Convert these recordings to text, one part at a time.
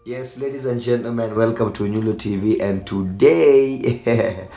Yes, ladies and gentlemen, welcome to Nyulo TV and today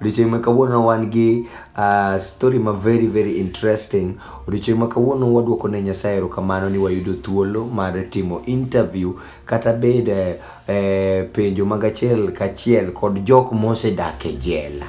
odiochieng' ma kawuono wan gi uh, story ma very very interesting. Odiochieng' ma kawuono waduoko ne Nyasaye erokamano ni wayudo thuolo mar timo interview kata bed eh, eh, penjo mag achiel kachiel kod jok mosedak e jela.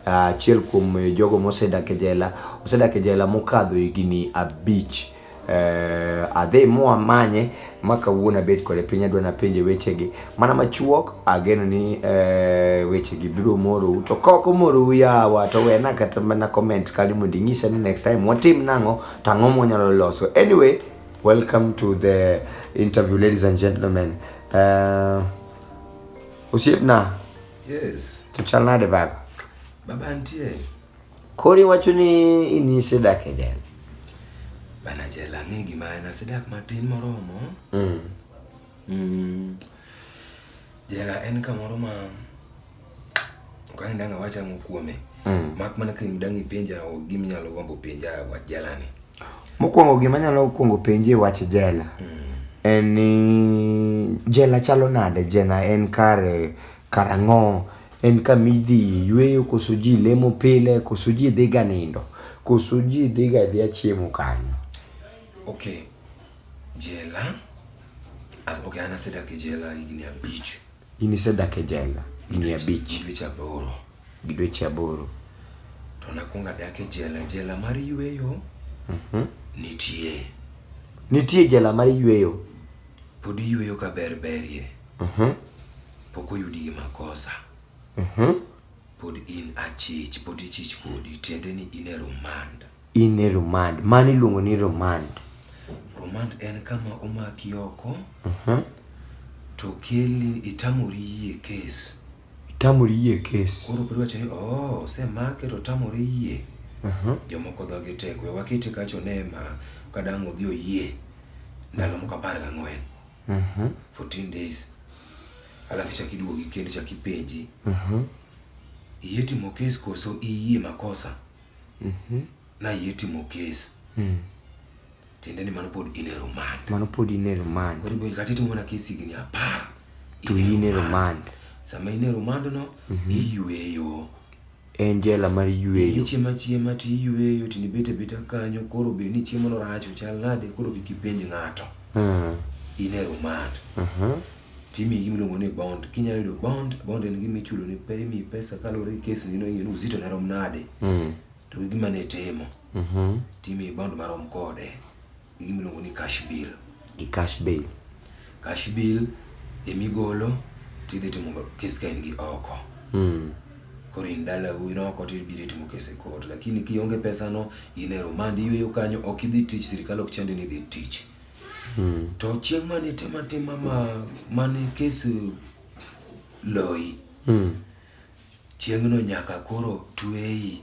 Ah, Achiel kuom eh, jogo mosedak e jela osedak e jela mokadho higni abich. uh, adhi moa manye ma kawuono abet kode piny adwa napenje wechegi mana machuok ageno ni uh, wechegi biro morou to kaok omorou yawa to wena kata mana comment kanyo mondo inyisa ni next time watim nang'o to ang'o mwanyalo loso anyway welcome to the interview ladies and gentlemen uh, osiepna yes. to chal nade baba baba nitie Koro iwacho ni in isedak e jela? Bana jela ang'e gima en, asedak matin moromo. Mm. Mm. Jela en kamoro ma kaendanga wachamo kuome mm. mak mana ka dang' ipenja gima inyalo gombo penja wach jelani. Mokwongo gima anyalo kwongo penje wach jela mm. en ni jela chalo nade? Jela en kare Karang'o? En kama idhiye yueyo koso ji lemo pile koso ji dhiga nindo koso ji dhiga adhiya chiemo kanyo? Okay, jela. As, okay, an asedak e jela higni abich. In isedak e jela higni abich Gi dweche aboro. gi dweche aboro. To nakwongo adak e jela. Jela mar yueyo nitie. Nitie jela mar yueyo? Pod iyueyo ka ber berie. Mhm. Pok oyudi gi makosa. Mhm. Pod in achich, pod ichich kodi, tiende ni in e remand. In e remand, mano iluongo ni remand. Remand en kama omaki oko Mhm. to keli itamori yie kes. Itamori yie kes. Koro pod wacho ni oh, osemake to otamore yie. Mhm. Jomoko dhogi tek, we wakete kacho ne ma kadang' odhi oyie ndalo moko apar gang'wen. Mhm. 14 days. Alafu chak iduogi kendo chak ipenji. Mhm. Iyie timo kes koso iyie makosa? Mhm. Na iyie timo kes. Mhm. Tiende ni mano pod in e remand. Mano pod in e remand. Koro ibo kata itimo mana kes higni apar. To in e remand. Sama in e remand no, mhm. iyueyo. en jela mar yueyo. Ichiemo achiema to iyueyo to ibet abeta kanyo koro be ni chiemono rach ochal nade koro kik ipenj ng'ato. Mm. In e remand. Uh mhm. -huh. Timi gima iluongo ni bond. Kinyalo yudo bond, bond en gima ichulo ni pe imiyi pesa kaluwore gi kes nino ing'e ni uzito ne rom nade. Mm. To gi gima ne itimo. Mm -hmm. Timi bond marom kode. gi gima iluongo ni cash bill. Gi cash bill. Cash bill ema igolo to idhi timo kes ka in gi oko. Mm. Koro in dalau in oko to ibiro itimo kes e court. Lakini kionge pesano, in e rumande iyweyo kanyo, ok idhi tich, sirkal ok chandi ni idhi tich. Mm. To chieng' mane itimo atima ma mane kes loyi, mm. chieng'no nyaka koro tweyi.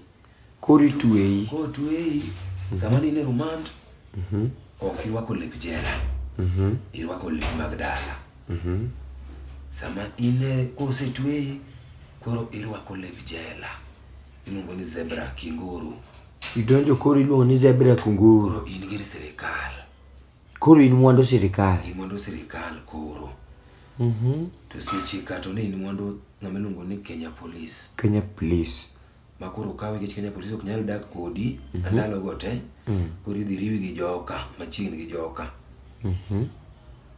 Koro itweyi. Koro tweyi. Sama ne in e remand, mhm. ok irwako lep jela. Mhm. Irwako lep mag dala. Mhm. Sama in e kosetweyi, koro irwako lep jela. Iluongo ni zebra kinguru. Idonjo koro iluongo ni zebra kunguru. Koro in gir sirikal. Koro in mwandu sirikal. In mwandu sirikal koro. Mhm. To seche ka to ne in mwandu ng'ama iluongo ni Kenya Police. Kenya Police. ma koro kawi nikech Kenya Police ok nyal dak kodi mm -hmm. ndalo go te mm. koro idhi riwi gi joka machiegni gi joka mm -hmm.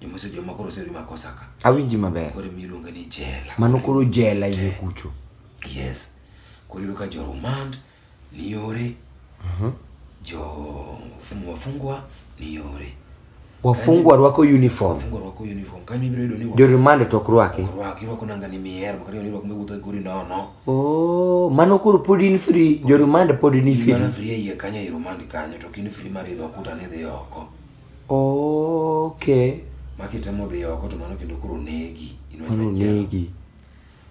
joma se joma koro seri ma kosa ka awinji maber koro mi luonga ni jela mano koro jela iye kucho yes koro iluka jo remand ni yore mm -hmm. jo fungwa fungwa ni yore Wafungwa rwako uniform. Wafungwa rwako uniform. Kanyo ibiro yudo ni wa. Jorumande to ok rwaki. Ok rwaki, irwako nanga ni mihero, kata ni irwako miwuotho e gori nono. Oh, mano koro pod in free, jorumande pod ni free. Mano free iye kanyo e rumande kanyo, to kin free mar idho kuta ni dhi oko. Okay. Makitemo dhi oko to mano kendo koro negi. Mano negi.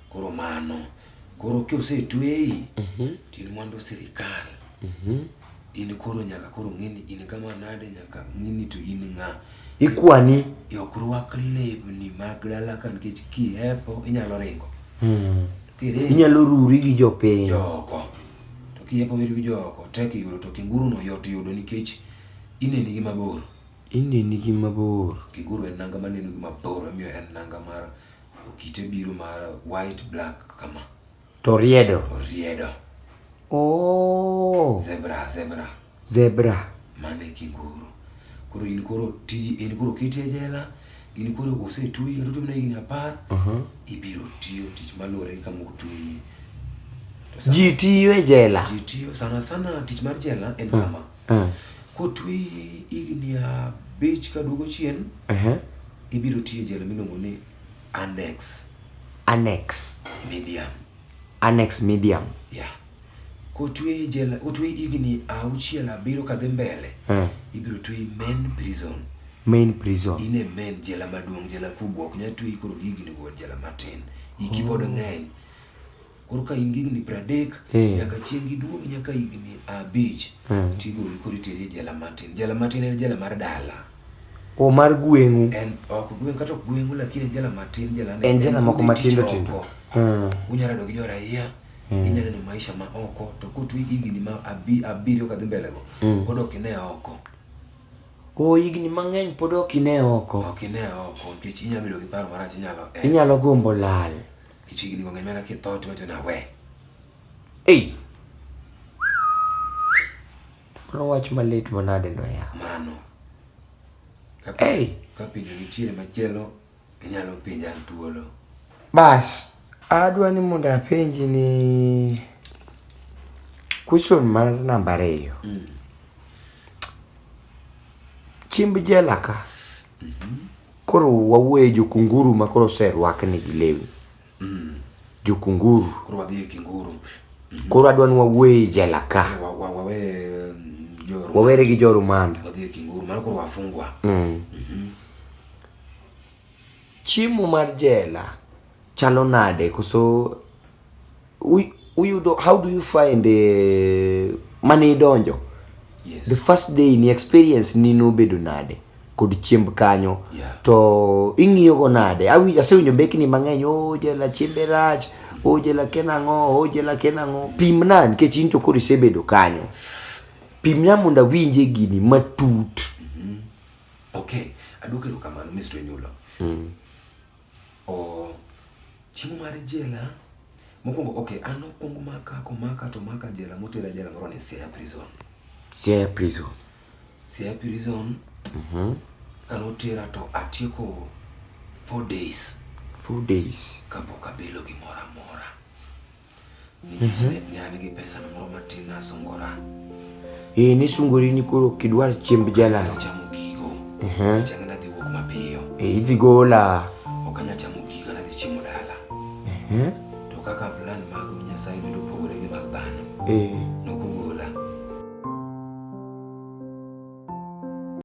Koro mano. Koro kosetweyi, mhm. to in mwandu sirikal. Mhm. In koro nyaka koro ng'e ni in kama nade nyaka ng'e ni to in ng'a. Ikwani. Ok rwak lewni mag dala ka nikech kihepo inyalo ringo. Hmm. Inyalo ruri gi jopiny. Joko. To kihepo weri gi joko tek yudo to kinguru no yot yudo nikech ineni gi mabor. Ineni gi mabor. Kinguru en nanga maneno gi mabor omiyo en nanga mar Kite biro mar white black kama. To riedo. Oriedo. Oh. Zebra, zebra. Zebra. Mano e kiguru. Koro in koro tiji in koro kiti e jela, in koro osetweyi kata otimne higni apar, Uh-huh. ibiro tiyo tich maluwore gi kama otweyi. To sana- Ji tiyo e jela. Ji tiyo sana sana tich mar jela en kama. Ah. Kotwe higni abich ka duogo chien, Aha. ibiro tiyo e jela miluongo ni annex Annex. medium. Annex medium. Yeah. Kotwe e jela, kotwe higni auchiel abiro kadhi mbele, Ah. ibiro twe e main prison. Main prison. In e main jela maduong', jela kubwa, ok nyal twe koro higni go jela matin. Iki pod ng'eny. koro ka in gi higni piero adek hmm. nyaka chieng' giduog nyaka higni abich hmm. tigoli koro iteri e jela matin jela matin en jela mar dala o mar gweng'u en ok gweng' kata ok gweng'u lakini jela matin jela en jela moko matindo tindo hmm. unyalo rado gi jo raia inyalo neno maisha ma oko to kotwi higni ma abiriyo kadhi mbele go pod ok ine oko O higni mang'eny pod ok ine oko. Ok ine oko nikech inyalo bedo gi paro marach inyalo. Inyalo gombo lal. Kichigni wang'e mana kitho to wacho na we. Ei. Mano wach malit manade no ya. Mano. Kapi, hey. Kapi nitiere machielo inyalo penja thuolo. Bas, adwa ni mondo apenji ni question mar namba ariyo. Mm. Chimb jela ka. Mm -hmm. Koro wawuoye jokunguru ma koro oserwakni gi lewni. Mm. Jokunguru. Koro wadhi e kinguru. Mm -hmm. Koro adwa ni wawuoye e jela ka. Wa, wa, wa, mm, wawere gi jo rumanda. Wadhi e kinguru, mano koro wafungwa. Mm. Mm -hmm. Chiemo mar jela chalo nade koso uyudo how do you find uh, mane idonjo yes. the first day ni experience ni nobedo nade kod chiemb kanyo yeah. to ing'iyogo nade asewinjo mbekni mang'eny ojela oh, chiembe rach ojela oh, ken ang'o ojela oh, ken ang'o pimna nikech in to koro isebedo kanyo pimna mondo awinje gini matut mm -hmm. okay aduok erokamano mr nyulo mm. Oh, chiemo mar jela mokwongo okay, an okwongo maka komaka to maka jela motera jela moro ni Siaya prison. Siaya prison. Siaya prison. Mhm. Mm an otera to atieko 4 days. 4 days kapok abilo gimoro amora. Eh, ni sungori ni koro kidwar chiemb jalal. Chamo gigo. Mhm. Changa na dhi wuok mapiyo. Eh, idhi gola. Ok anya chamo gigo na dhi chiemo dala. Mhm. To kaka plan mag Nyasaye bedo pogore gi mag dhano. Eh.